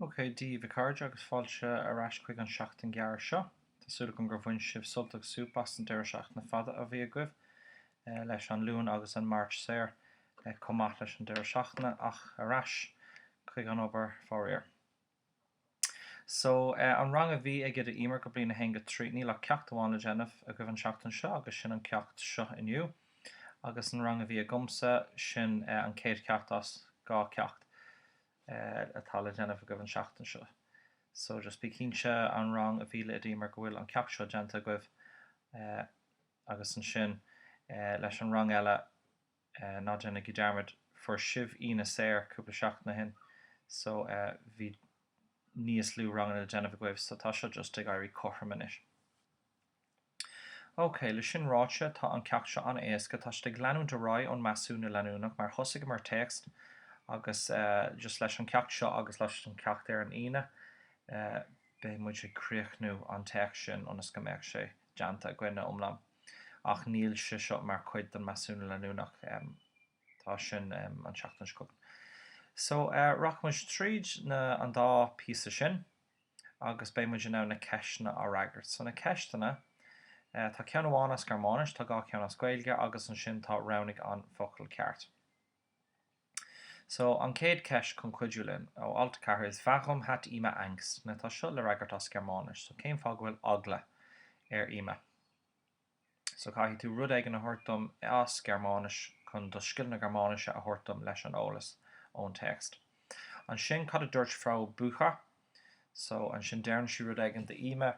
OK, Daoibh, a chairde, agus fáilte ar ais chuig an tseachtain ghearr seo. Tá súil agam gur bhain sibh sult agus súp as an deireadh seachtaine fada a bhí agaibh, leis an Luan agus an Máirt saor, chomh maith leis an deireadh seachtaine, ach ar ais chuig an obair, faraor. So, eh, an rang a bhí ag Oide Emer go Bliain 1 go 3, níl ach ceacht amháin le déanamh agaibh an seachtain seo agus sin an ceacht seo inniu. Agus an rang a bhí agamsa, sin eh an céad cheacht as dhá ceacht eh atá le déanamh agaibh an seachtain seo. So just bí cinnte an rang a bhí le Oide Emer go bhfuil an ceacht seo déanta agaibh eh agus ansin eh leis an rang eile, ná déanaigí dearmad, fuair sibh Aoine saor cúpla seachtain ó shin so bhí níos lú ranganna le déanamh agaibh so tá seo just ag éirí cothrom anois. OK, le sin ráite, tá an ceacht seo an-éasca, tá siad ag leanúint ar aghaidh ón measúnú leanúnach mar thosaigheamar téacs agus just leis an ceacht seo agus leis an ceacht ar an Aoine beidh muid ag críochnú an téacs sin ionas go mbeadh sé déanta againn ina iomlán. ach níl sé seo mar chuid den measúnú leanúnach. Tá sin an tseachtain seo chugainn. So, rachaidh muid tríd na, an dá phíosa sin agus beidh muid in ann na ceisteanna á fhreagairt. So, na ceisteanna, tá ceann amháin as Gearmáinis, tá dhá cheann as Gaeilge agus ansin tá roghnaigh an focal ceart. So, an chéad cheist chun cuidiú linn, ó alt 4, is Warum hat Emma Angst, now tá seo le fhreagairt as Gearmáinis, so cén fáth go bhfuil eagla ar Emma? So caithfidh tú rud éigin a thabhairt dom as Gearmáinis chun do scil na Gearmáinise a thabhairt dom leis an eolas ón téacs. Ansin cad a dúirt Frau Bücher? So ansin deireann sí rud éigin d'Emma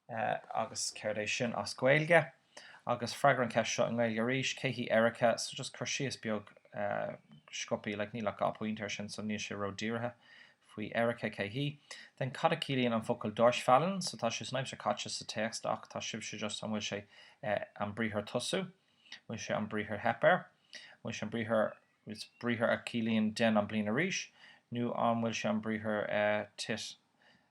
Eh, agus céard é sin as Gaeilge? Agus freagair an cheist seo i nGaeilge arís, cé hí Erika? So just cur síos beag, eh, sciobtha, like níl ach dhá pointe ar sin so níl sé ró-dírithe, faoi Erika, cé hí. Then cad a ciallaíonn an focal Durchfallen? So tá sé san aimsir chaite sa téacs ach tá sibhse just an bhfuil sé, eh, an briathar tosú? Bhfuil sé an briathar theip air? Bhfuil sé an briathar a chiallaíonn déan an bliain arís? Nó an bhfuil sé an briathar, eh, tit?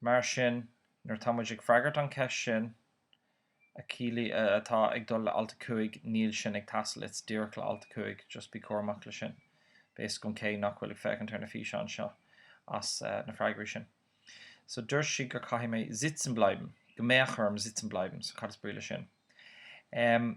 Mar sin, nuair atá muid ag freagairt an cheist sin, actually, atá ag dul le alt 5, níl sin ag teastáil, it's díreach le alt 5, just bí cúramach le sin. Beidh a fhios agam cé nach bhfuil ag féachaint ar na físeáin seo as na freagraí sin. So dúirt sí gur caithfidh mé sitzen bleiben, go mbeadh orm sitzen bleiben, so cad is brí le sin? Em.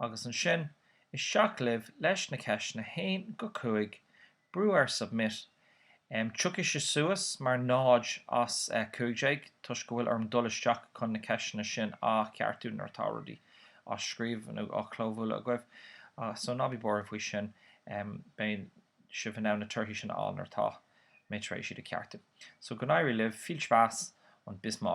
Agus ansin, isteach libh leis na ceisteanna 1-5, brú ar Submit, tiocfaidh sé suas mar 0 as 15 toisc go bhfuil orm dul isteach chun na ceisteanna sin a cheartú nuair atá rudaí á scríobh nó á chlóbhualadh agaibh, só ná bí buartha faoi sin, beidh sibh in ann na torthaí sin a fháil nuair atá mé tar éis iad a cheartú. Só go n-éirí libh, viel Spaß und bis